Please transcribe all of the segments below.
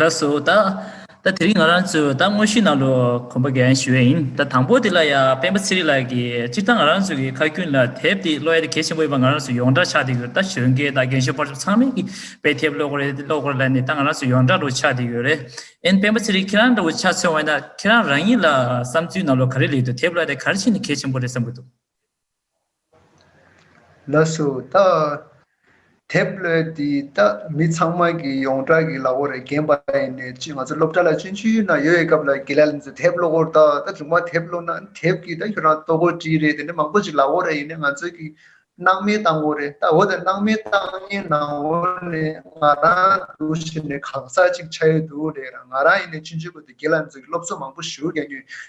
ལ་སོ་ད། ད་དེ་རིང་ང་རང་ཚོས་ད་དངོས་གཞིའི་ནང་ལོ་གོམ་པ་གན་ཞུ་ཡ་ཡིན་ད་དང་པོ་དེ་ལ་ཡང་སྤེན་པ་ཚེ་རིང་ལགས་ཀྱིས་སྤྱིར་བཏང་ང་རང་ཚོ་གི་ཁ་རྒྱུན་ལ་དེབ་དེ་ཀློག་ཡ་དེ་གལ་ཆེན་པོ་ཡིན་པ་ང་རང་ཚོས་ཡོངས་གྲགས་ཆགས་དེ་ཡོད་ད་གཞོན་སྐྱེས་ད་རྒན་གཞོན་ཕར་ཕྱོགས་ཚང་མས་ཀྱི་པའི་དེབ་ཀློག་རེད་ཀློག་གོ་ལ་ནི་ད་ང་རང་ཚོས་ཡོངས་གྲགས་འདྲ་བོ་ཆགས་དེ་ཡོད་རེད་ཨེན་སྤེན་པ་ཚེ་རིང་ཁྱེད་རང་འདྲ་བོ་ཆགས་ཚོད་འོན་ད་ཁྱེད་རང་རང་ཉིད་ལ་བསམ་ཚུལ་ནང་ལོ་ག་རེ་ལེགས་འདུག་དེབ་ཀློག་ཡ་དེ་ག་རེ་བྱས་ནས་གལ་ཆེན་པོ་རེད་བསམ་གྱི་འདུག། ལ་སུ་བཏགས། དེབ་ཀློད་འདི་དག་མི་ཚང་མ་གི་ཡོངས་གྲགས་ཀྱི་ལག་འོག་རེ་འགན་པ་ཡིན་ནས་ཅི་ང་ཚོ་སློབ་གྲྭ་ལ་སྤྱོད་འཇུག་ཡུལ་ན་ཡོད་ཡོད་སྐབས་ལ་དགེ་ལ་ལ་ཚོས་དེབ་ཀློག་གོ་ད་ད་རྫུན་མ་དེབ་ཀློག་ན་དེབ་ཀྱི་ད་ཁྱོད་རང་ལྟོ་གོ་བྲིས་རེད་དེ་ནི་མང་པོ་ཅིག་ལག་འོག་རེ་ཡིན་ནས་ང་ཚོས་ཀྱི་སྣང་མེད་བཏང་གོ་རེད་ད་འོ་ད་སྣང་མེད་བཏང་ཉིན་ན་འོ་ནི་ང་རང་འདུག་ཕྱིར་ནི་གང་ཟག་ཅིག་ཆ་ཡོད་འདུག་རེད་རང་ང་རང་ཡིན་ནས་སྤྱོད་འཇུག་གོ་ད་དགེ་ལ་ལ་ཚོས་ཀྱི་སློབ་གསོ་མང་པོ་ཞུ་ག་ཉོས་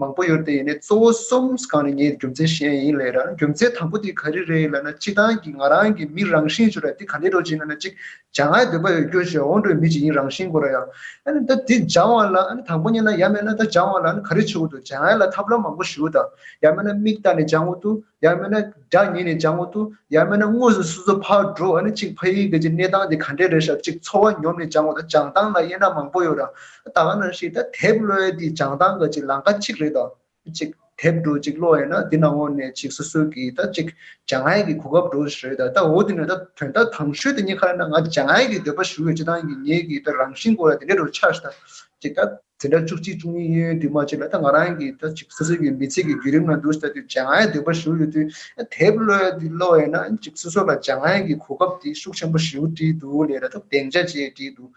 མང་པོ་ཡོད་དེ་ཡིན་ནས་གཙོ་བོ་གསུམ་གང་ནས་ངའི་རྒྱུ་མཚན་གཞན་ཡིན་ལེ་ར་རྒྱུ་མཚན་དང་པོ་དེ་ག་རེ་རེད་ལ་ན་སྤྱི་སྟངས་ཀྱི་ང་རང་གི་མི་རང་བཞིན་ཞེས་པ་དེ་ག་ནས་འགྲོ་ཅིག་ན་ན་ཅིག་བྱ་ང་འདོད་པ་ཡོད་རྒྱུ་ཞེས་འོང་འགྲོའི་མི་ཅིག་ཡིན་རང་བཞིན་གོ་ར་ཡ། ཨ་ནི་ད་དེ་སྦྱང་བ་ལ་ཨ་ནི་དང་པོ་གཉིས་ན་ཡ་མེད་ན་ད་སྦྱང་བ་ལ་ཨ་ནི་ག་རེ་བྱེད་འོས་འདུག་བྱ་ང་ལ་ཐབས་ལམ་མང་པོ་ཞུ་དང་ཡ་མེད་ན་མིག་ལྟ་ནས་སྦྱང་འོས་འདུག་ཡར་མེད་ན་དགྲ་ཉིད་ནས་བྱང་ངོ་ཏུ་ཡར་མེད་ན་དངོས་སུ་སུ་སུ་ཕར་འགྲོ་ཨ་ནི་གཅིག་ཕ་ཡིག་གི་གནས་སྟངས་དེ་ག་འདྲས་རེད་ཞག་གཅིག་འཚོ་བ་ཉོབ་ནས་བྱང་ངོ་ད་བྱང་ཐང་ལ་དབྱེ་ན་མང་པོ་ཡོད་རང་ཨ་ད་ག་ནང་ཞིག་ད་དེབ་གློའི་དེ་བྱང་ཐང་གི་གཅིག་ལང་ཀ་གཅིག་རེད་ད་གཅིག་དེབ་འགྲོ་གཅིག་གློ་ཡིན་ན་དེ་ནང་ངོ་ནས་གཅིག་སོ་སོའི་གི་ད་གཅིག་བྱང་ཨའི་གི་གོ་སྐབས་འགྲོ་རེད་ད་ད་འོ་དེ་ནས་ད་དོན་དག་དང་ཤོས་དེ་གཉིས་ཁ་རེ་ན་ང་བྱང་ཨའི་གི་འདོད་པ་ཞུ་ཡོད་ཅེ་ཐང་གི་ངའི་གི་ད་རང་བཞིན་གོ་ད་དེ་འདྲས་རོ་ཆགས་ཤིག་ད་གཅིག་ད། དེ་འདྲ་བཅུ་གཅིག་བཅུ་གཉིས་གཡས་གཡོན་དུས་མ་བྱས་པས་ད་ང་རང་གིས་ད་ཅིག་སོ་སོ་ཡི་མི་ཚེ་གི་བརྒྱུད་རིམ་ལ་འདུར་ལྟ་དུས་བྱ་ང་ཡི་འདོད་པ་ཞུ་ཡོད་དུས་དེབ་གློད་དེ་གློད་ཡོད་ན་ཅིག་སོ་སོ་ལ་བྱ་ང་ཡི་གོ་སྐབས་དེ་ཤུགས་ཆེན་པོ་ཞུ་བྲིས་འདུག་ལས་ར་ཐུབ་གདེང་ཆ་བཅས་བྲིས་འདུག་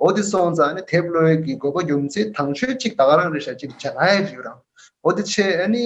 འོ་དེ་སོང་ཙང་དེབ་གློད་ཀྱི་དགོས་པ་ཡོང་ཚེ་དང་ཆོས་གཅིག་དག་རང་རེ་བྱ་གཅིག་བྱ་ང་ཡི་རིགས་རང་འོ་དེ་ཆེད་ཨ་ནི།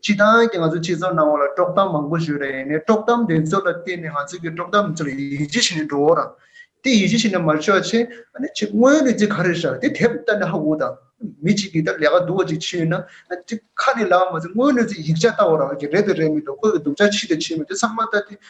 སྤྱི་བཏང་གི་ང་ཚོ་ཁྱེད་ཚོ་ནང་བ་ལ་དཀྲོག་གཏམ་མང་པོ་བཤོད་རེ་ཡིན་ནའི་དཀྲོག་གཏམ་དེ་ཚོ་ལ་བརྟེན་ནས་ང་ཚོ་གི་དཀྲོག་གཏམ་དེ་ཚོ་ལ་ཡིད་ཆེས་བྱེད་ནས་འགྲོ་འོ་རང་དེ་ཡིད་ཆེས་བྱེད་ནས་མ་ཆོག་ཆེ་ཨ་ནི་ཆེ་དངོས་ཡོད་ཅིག་ག་རེ་ཤར་དེ་དེབ་ལྟ་ནས་ཧ་གོ་དང་མི་ཅིག་གིས་ད་ལས་ཀ་འདུག་བ་ཅིག་ཕྱི་ཡོད་ན་ཁ་ནས་ལབ་མ་ཟེར་དངོས་ཡོད་ཅིག་ཡིག་ཆ་ལྟ་འོ་རང་གི་རེད་དུ་རེད་མི་འདུག་ཁོ་གི་སྡུག་ཆ་ཕྱི་དུ་ཕྱིན་མི་འདུག་ཚང་མ་ལྟ་དེ་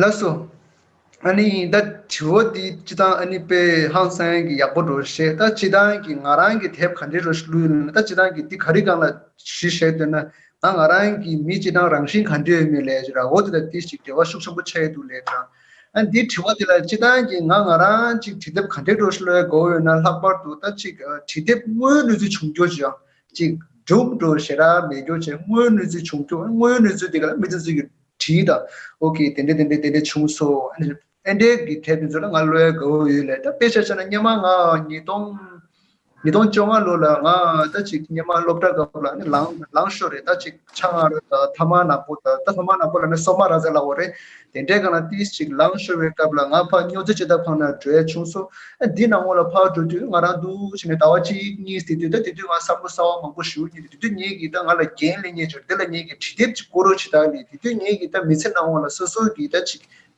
ལགས་སོ། ཨཱ་ནི་ད་དྲི་བ་འདི་ཅི་ཐང་ཨཱ་ནི་དཔེ་ཧང་སངས་ཀྱི་ཡག་པོ་རོ་བཤད་ད་ཅི་ཐང་གི་ང་རང་གི་དེབ་ག་འདྲི་རོ་ལུས་ཡོད་ན་ད་ཅི་ཐང་གི་འདི་ག་རི་གང་ལ་བཞི་བཤད་འདོད་ན་ང་ང་རང་གི་མི་ཅི་ཐང་རང་བཞིན་ག་འདྲི་ཡོད་མེད་ལས་ར་འོ་དེ་དང་དེ་ཞིག་འབྲེལ་བ་ཤུགས་ཆེན་པོ་ཆགས་ཡོད་འདུག་ལས་དྲང་ཨཱ་འདི་དྲི་བ་འདི་ལ་ཅི་ཐང་གི་ང་ང་རང་ཅིག་དྲི་དེབ་ག་འདྲི་རོ་ལུས་དགོས་ཡོད་ན་ལྷག་པར་དུ་ད་ཅིག་དྲི་དེབ་དངོས་ལུས་ཚུལ་བྱུང་རྒྱུ་ཅི་ཡང། གཅིག། སྒྲུབ་འགྲོ་ཞེ་དྲག་མེད་རྒྱུར་བྱས་དངོས་ཡོད་གནས་ཚུལ་བྱུང་རྒྱུ་དངོས་ཡོད་གནས་ཚུལ་དེ་ག་ལ་མི་ཚེ་ཚུལ་གྱིས་བྲིས་དང་འོ་ཁེ་དེ་འདྲས་དེ་འདྲས་དེ་འདྲས་བྱུང་སོང་ཨ་ཨེ་འདྲས་ཀྱི་ཐད་དེ་ཚོ་ལ་ང་བློ་ཡ་གའུ་ཡོད་ལེ་ད་དཔེ་ཆ་ཆ་ན་སྙེ་མ་ང་ཉིས་སྟོང་ཉིས་སྟོང་བཅོ་ལྔ་ལོ་ལ་ང་ད་ཅིག་སྙེ་མ་སློབ་གྲྭ་སྐབས་ལ་ལངས་ལངས་ཤོར་རེད་ད་ཅིག། ཕྱག་ང་རོ་དང་ཐ་མ་ནག་པོ་དང་ཐ་མ་ནག་པོ་ལ་ནི་སོ་མ་ར་ཛའི་ལ་འོ་རེད། དེ་འདྲའི་གང་ལ་ཏིས་ཅིག་ལང་ཤོར་བའི་སྐབས་ལ་ང་ཕ་སྨྱོ་རྫི་ཅི་ད་ཕངས་ན་གྲོས་བྱུང་སོ། འདི་ནང་ངོ་ལ་ཕར་འགྲོ་དུས་ང་རང་འདུག་བྱས་ནས་ཟླ་བ་གཅིག་གཉིས་དེ་དུས་ད་དེ་དུས་ང་བསམ་བློ་གསར་བ་མང་པོ་ཞུ་ཉེ་དུས་དེ་དུས་ངེད་ཀྱིས་ད་ང་ལ་རྒྱན་ལེན་ཉེ་ཆར་དེ་ལ་ངེད་ཀྱིས་བྲིས་དེབ་ཅིག་བསྐུར་རོགས་བྱས་ད་ལས་དེ་དུས་ངེད་ཀྱིས་ད་མི་ཚེ་ནང་ངོ་ལ་སོ་སོ་གིས་ད་ཅིག་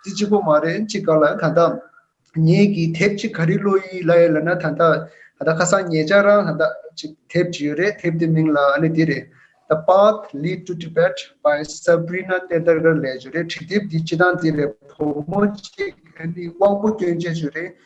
རྩི་གཅིག་པོ་མ་རེད་གཅིག་ག་ལ་ད་ལྟ་ངེད་ཀྱིས་དེབ་གཅིག་ག་རི་བློ་ཡིས་ལ་ཡོད་ལ་ན་ད་ལྟ་ད་ལྟ་ཁ་སང་ངེད་ཅག་རང་ལ་ད་གཅིག་དེབ་གཅིག་ཡོད་རེད་དེབ་དེ་མིང་ལ་ཨ་ནི་འདི་རེད The Path Lead to Tibet by Sabrina Tendarkar ལས་བྱུང་རེད་བྲིས་དེབ་འདི་སྤྱི་སྟངས་འདི་རེད་བུ་མོ་གཅིག་ཨ་ནི་དབང་པོ་སྐྱོན་ཅན་ཞིག་རེད་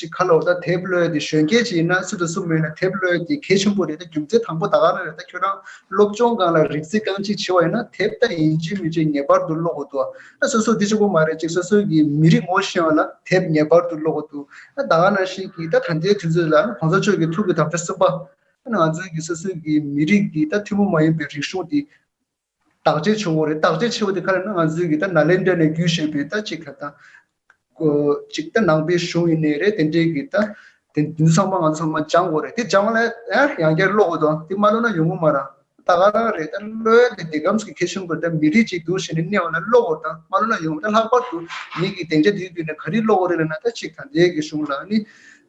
ཅིག་ཁ་ལོ་ད་དེབ་ཀློད་དེ་གཞོན་སྐྱེས་ཅིག་ཡིན་ན་སུ་དང་སུ་མེད་ན་དེབ་ཀློད་དེ་གལ་ཆེན་པོ་རེད་ད་རྒྱུ་མཚན་དང་པོ་ད་ག་རང་རེད་ད་ཁྱོད་རང་སློབ་སྦྱོང་གང་ལ་རིག་རྩིས་གང་ཅིག་ཆེ་བ་ཡིན་ན་དེབ་ད་ཡིན་གཅིག་མིན་གཅིག་ངེས་པར་དུ་ཀློག་དགོས་འདུག་ཨ་སོ་སོ་དེ་ཆོ་པོ་མ་རེད་ཅིག་སོ་སོ་གི་མི་རིགས་ངོ་ཤེས་བ་ལ་དེབ་ངེས་པར་དུ་ཀློག་དགོས་འདུག་ཨ་ད་ག་ནང་ཞིག་གིས་ད་ད་ལྟའི་དུས་ཚོད་ལ་ཨ་གོང་ས་མཆོག་གི་ཐུགས་ཀྱི་དམ་བཅའ་གསུམ་པ་ཨ་ང་ཚོའི་གི་སོ་སོའི་གི་མི་རིགས་ཀྱི་ད་ཐུན་མོང་མ་ཡིན་པའི་རིག་གཞུང་དེ་བརྟག་དཔྱད་ཆུང་ངུ་རེད་བརྟག་དཔྱད་ཆེ་བ་དེ་ག་རེ་ན་ང་ཚོས་གིས་ད་ནཱ་ལེནྡྲ་ནས་བརྒྱུད་བཤད་པའི་ད་ཅིག་ལ་དང། ཅིག་ད་ནང་པའི་གཞུང་ཡིན་ནི་རེད་དེ་འདྲས་གིས་ད། དེ་འདི་ཚང་མ་ང་ཚོ་ཚང་མ་སྦྱང་དགོས་རེད་དེ་སྦྱང་ལ་ཡང་ཡང་བསྐྱར་ཀློག་དགོས་དོ་དེ་མ་ཀློག་ན་ཡོང་གི་མ་རང་ད་ག་རང་རེད་ད་བློ་ཡ་དེ་དེ་ཁམས་ཀྱི་མཁས་གཞུང་གི་ད་མི་རིགས་ཅིག་འདུག་ཞེས་ནི་གནས་བ་ལ་ཀློག་དགོས་དང་མ་ཀློག་ན་ཡོང་གི་ད་ལྷག་པར་དུ་ཉིད་ཀྱིས་གདེང་ཆ་དེའི་བརྒྱུད་ནས་ག་རེ་ཀློག་གི་རེད་ལ་ན་ད་ཅིག་ད་འདས་ཀྱི་གཞུང་ལ་ནི་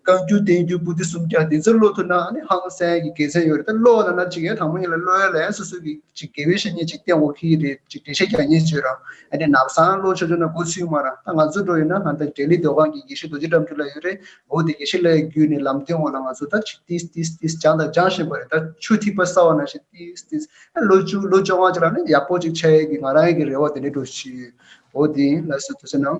བསྐང་རྒྱུ་བསྟེན་རྒྱུ་བཀུར་སྟི་སུམ་བརྒྱ་འདི་ཚོ་སློབ་ཐུབ་ན་ནི་ཧང་སངས་ཀྱི་དགེ་མཚན་ཡོད་རེད་ད་སློབ་ལ་ན་ཅིག་ཡང་དང་པོ་གཉིས་ལ་སློབ་ཡོན་ལ་ཡང་སོ་སོ་གི་ཅིག་དགེ་བའི་བཤེས་གཉེན་ཅིག་བསྟེན་འོང་གི་ཡི་རེད་ཅིག་འགྲེལ་བཤད་རྒྱག་ཉེན་བྱོས་རང་ཨ་ནི་ནག་སང་སློབ་ཆོག་ཆོག་ན་གོ་ཚུལ་མ་རང་ད་ང་ཚོ་འགྲོ་ཡོད་ན་ང་ད་འབྲས་ལི་སྡོད་ཁང་གི་ཡེ་ཤུ་རྡོ་རྗེ་འགྲམ་རྒྱུ་ལ་ཡོད་རེད་འོ་དེ་ཡེ་ཤེས་ལའི་རྒྱུད་ནི་ལམ་སྟོན་འོག་ལ་ང་ཚོ་ད་ཅིག་ཏིས་ཏིས་ཏིས་སྦྱང་དང་སྦྱང་བཞིན་པ་རེད་ད་ཆུ་ཐིགས་པ་སྲ་བ་ན་ཞིག་ཏིས་ཏིས་ཨ་ལོ་བཅུ་ལོ་བཅོ་ལྔ་ཅིག་ལ་ནི་ཡག་པོ་ཅིག་ཆ་ཡོད་ཀི་ང་རང་ཡི་གི་རེ་བ་དེ་འདྲས་འགྲོ་བཞིན་ཡོད་འོ་དེ་ཡིན་ལ་སོ་ད་ཚོ་ནང།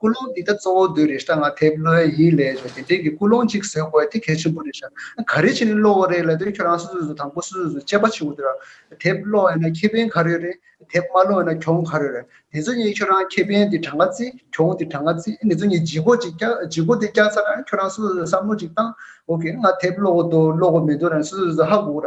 ཀུན་སློང་འདི་དག་གཙོ་བོ་བདུད་རེ་ཤྲཱི་ང་དེ་བློའི་ཡིད་ལས་བྱུང་སྟེ་དེང་གི་ཀུན་སློང་གཅིག་ཟེར་དགོས་དེ་གལ་ཆེན་པོ་རེད་བྱ། ག་རེ་བྱས་ནས་བློ་བོ་རེད་ལབ་དེ་ཁྱོད་རང་སོ་སོ་སོ་དང་པོ་སོ་སོ་སོ་དཔྱད་པ་བྱེད་དགོས་དེ། དེ་བློ་ཡིན་ན་ཁེ་ཕན་ག་རེ་རེད་དེ་མ་བློ་ཡིན་ན་གྱོང་ག་རེ་རེད་དེ་ཚོ་གཉིས་ཁྱོད་རང་ཁེ་ཕན་དེ་གྲངས་ཀ་རྩི་གྱོང་དེ་གྲངས་ཀ་རྩི་དེ་ཚོ་གཉིས་ལྗིད་གོ་ཅིག་ལྗིད་གོ་དེ་བསྐྱར་ཚར་ན་ཁྱོད་རང་སོ་སོ་སོ་བསམ་བློ་ཅིག་བཏང་ཨོ་ཁེ་ང་དེ་བློ་བོ་འདུག་བློ་བོ་མི་འདུག་རང་སོ་སོ་སོ་ཧ་གོ་ར་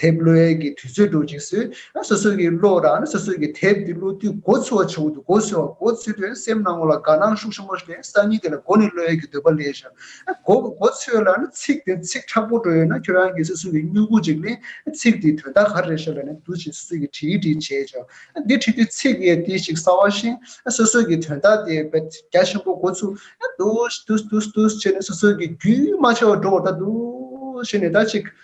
དེབ་བློ་ཡལ་གྱི་དུས་ཚོད་འགྲོ་ཅིང་སུ་སོ་སོ་ཡི་བློ་རང་སོ་སོ་ཡི་དེབ་དེ་བློ་དུས་འགོ་ཚུལ་བ་བྱུང་དུས་འགོ་ཚུལ་བ་འགོ་ཚུལ་དུས་སེམས་ནང་ངོ་ལ་དགའ་སྣང་ཤུགས་ཆེན་པོ་ཞིག་ལས་སང་ཉིན་དེ་ལ་འགོ་ནི་བློ་ཡལ་གྱི་འདོད་པ་ལས་ཤོར་འགོ་འགོ་ཚུལ་ལ་ཚིག་དེ་ཚིག་ཁྲག་པོ་འགྲོ་ཡོད་ན་ཁྱོད་རང་གི་སོ་སོ་ཡི་སྨྱུ་གུ་ཅིག་ལས་ཚིག་དེའི་དོན་དག་ག་རེ་རེད་ཤོར་ལ་ནི་འདུ་བྱེད་སོ་སོ་ཡི་བྲིས་བྲིས་བྱས་བྱས་འདི་བྲིས་དུས་ཚིག་ཡས་དེ་ཞིག་གསར་བ་ཤིང་སོ་སོ་ཡི་དོན་དག་དེ་བས་རྒྱ་ཆེན་པོ་འགོ་ཚུལ་དུ་དུ་དུ་དུ་དུ་བྱས་ནས་སོ་སོ་ཡི་རྒྱུད་མ་ཆད་བར་འགྲོ་བར་ད་དུ་བྱས་ནས་ད་ཅིག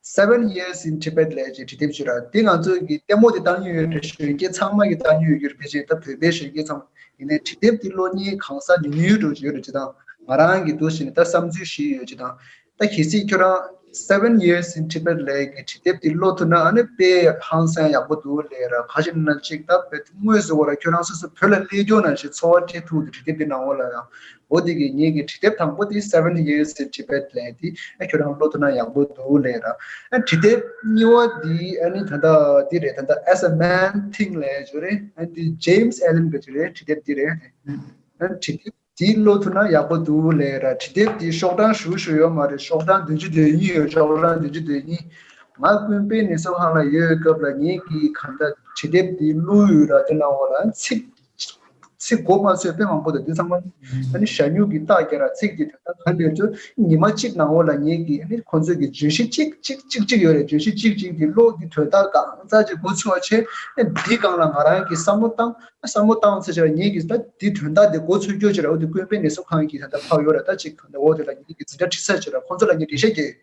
Seven Years in Tibet ལས་ཀྱི་བྲིས་དེབ་ཅིག་རེད། དེ་ང་ཚོས་ཀྱི་ལྟད་མོ་དེ་བཏང་ཉོན་ཡོད་རེད་གཞོན་སྐྱེས་ཚང་མ་གྱི་བཏང་ཉོན་ཡོད་རྒྱུ་རེད་དེ་བཞིན་ད་བོད་པའི་གཞོན་སྐྱེས་ཚང་མ་ཡིན་ནའི་བྲིས་དེབ་དེ་གློ་སྙིང་གང་སར་ཉུལ་ཉུལ་འགྲོ་གྱི་ཡོད་རེད་ཅེས་དང་ང་རང་གིས་འདུག་བཞིན་ནས་ད་བསམ་ཚུལ་ཞིག་ཡོད་ཅེས་དང། ད་གལ་སྲིད་ཁྱོད་རང Seven Years in Tibet ལས་ཀྱི་བྲིས་དེབ་དེ་ཀློག་ཐུབ་ན་ཨ་ནི་དཔེ་ཡག་ཧང་སངས་ཡག་པོ་འདུག་ལས་ར་ཁ་ཞིག་ན་གཅིག་ད་བོད་དེབ་དངོས་སུ་འོག་ལ་ཁྱོད་རང་སོ་སོ་བོད་ལ་སླེབས་རྒྱུ་ན་ཞེས་འཚོ་བ་སྐྱེལ་ཐུབ་འདུག་བྲིས་དེབ་དེ་ནང་འོག་ལ་ཡང་ཨོ་དེ་གི་ངེད་ཀྱི་བྲིས་དེབ་དང་པོ་དེ seventy years in Tibet ལས་དེ་ཁྱོད་རང་ཀློག་ཐུབ་ན་ཡག་པོ་འདུག་ལས་རང་བྲིས་དེབ་གཉིས་བ་དེ་ནི་ད་ལྟ་འདི་རེད་ད་ལྟ as a man think ལས་བྱུང་རེད་འདི James Allen གྱི་བྲིས་རེད་བྲིས་དེབ་འདི་རེད་བྲིས་དེབ་འདི་ཀློག་ཐུབ་ན་ཡག་པོ་འདུག་ལས་རང་བྲིས་དེབ་འདི་ཤོག་གྲངས་ཞུ་ཞུ་ཡོད་མ་རེད་ཤོག་གྲངས་བདུན་ཅུ་དོན་གཉིས་ཡོད་ཤོག་གྲངས་བདུན་ཅུ་དོན་གཉིས་ང་ཀུན་དཔེ་ནི་སོ་ཧང་ལ་ཡོད་སྐབས་ལ་ངེད་ཀྱིས་གང་འདྲ་བྲིས་དེབ་འདི་བླུ་ཡོད་ར་ལྟོས་གནང་འོ་རང་ཚིག། ཚིག་མགོ་མ་ཚོས་དཔེ་མང་པོ་དང་དེ་ཚང་མ་ནི་ཞྭ་སྨྱུག་གི་རྟགས་བརྒྱ་ར་ཚིག་གིས་དོན་དག་ག་འདོད་དུ་ཉི་མ་གཅིག་ནང་བོ་ལ་ཉེ་གི་ཁོ་ཚོས་ཀྱི་བརྗོད་གཞི་ཅིག་ཅིག་ཅིག་ཅིག་ཡོད་རེད་བརྗོད་གཞི་ཅིག་ཅིག་གི་གློག་གི་དོད་རྟགས་གང་རྩ་ཅིག་མགོ་ཚུགས་བ་ཆེ་འདི་སྒང་ལ་ང་རང་གིས་བསམ་བློ་བཏང་བསམ་བློ་བཏང་ཚེ་ཆེ་ར་ཉེ་གི་ད་དེ་དོན་དག་དེ་མགོ་ཚུགས་རྒྱུ་ཆེ་ར་འོ་དེ་ཀུན་དཔེ་ནད་གསོ་ཁང་གི་ད་ལྟ་ཕག་ཡོད་ར་ད་ཅིག་འོ་དེ་ལ་ཉེ་གི་འཛིན་གྲྭ་ཁྲིད་ས་ཆེ་ར་ཁོ་ཚོ་ལ་ངས་འགྲེལ་བཤད་རྒྱག་ཡོད།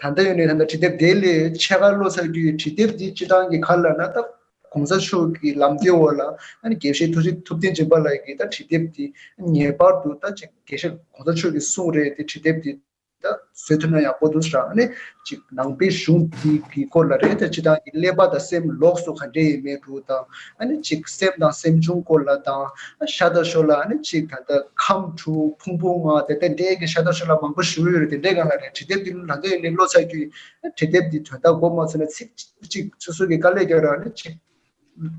ད་ལྟ་ཡོད་ནི་ད་ལྟ་བྲིས་དེབ་དེ་ལས་ཆེས་ཁ་ལོ་ཚར་རྒྱུ་ཡི་བྲིས་དེབ་འདི་སྤྱི་དྲང་གི་ཁ་ལ་ན་ད་གོང་ས་མཆོག་གི་ལམ་སྟོན་འོག་ལ་ད་ནི་དགེ་བཤེས་ཐུགས་རྗེ་ཐུབ་བསྟན་སྦྱིན་པ་ལགས་ཀྱིས་ད་བྲིས་དེབ་འདི་ངེས་པར་དུ་ད་ཅིག་དགེ་བཤེས་གོང་ས་མཆོག་གི་གསུང་རེད་དེ་བྲིས་དེབ་འདི་ད་བཟོས་ཐུབ་ན་ཡག་པོ་འདུག་རང་ནས་ཅིག་ནང་པའི་གཞུང་འདི་གི་སྐོར་ལ་རེད་ད་སྤྱི་དྲང་གི་ཀླད་པ་དང་སེམས་ལོགས་སུ་ག་འདྲེ་ཡེ་མེད་དུ་ད། ཨ་ནི་གཅིག་སེམས་དང་སེམས་བྱུང་སྐོར་ལ་དང། ཤ་དར་ཞོར་ལ་ཨ་ནི་གཅིག་ད་ལྟ་ཁམས་དྲུག་ཕུང་པོ་ལྔ་དེ་ལྟ་འདྲེས་ཀྱི་ཤ་དར་ཞོར་ལ་མང་པོ་ཞུ་ཡོད་རེད་དེ་འདྲའི་སྒང་ལ་རེད་བྲིས་དེབ་འདི་ལ་ལྷག་ཡོད་ནི་བློ་ཚ་རྒྱུ་ཡིན། བྲིས་དེབ་འདི་དོན་དག་གོ་མ་ཚོད་ན་ཚིག་གཅིག་སོ་སོ་གི་དཀའ་ལས་རྒྱག་རོགས་ཨ་ནི་གཅིག།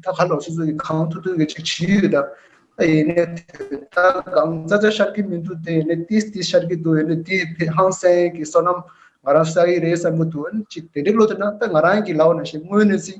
ད་ག་ལོག་སོ་སོ་གི་གང་ཐུག་ཐུག་གི་ཅིག་བྲིས་ཡོད་ད། ཡིན་ནས་དོན་དག་གང་རྩ་རྩ་ཤར་གྱི་མི་འདུག་དེ་ཡིན་ནས་ཏིས་ཏིས་ཤར་གྱི་འདུག་ཡིན་ནས་དེའི་ཕེ་ཧང་སེང་གི་བསོད་ནམས་ང་རང་བསགས་ཡི་རེད་བསམ་གྱི་འདུག་ཨ་ནི་གཅིག་དེ་འདྲའི་བློ་ཚོད་ན་ད་ང་རང་གི་ལག་ན་ཞིག་དངོས་གནས་ཚིག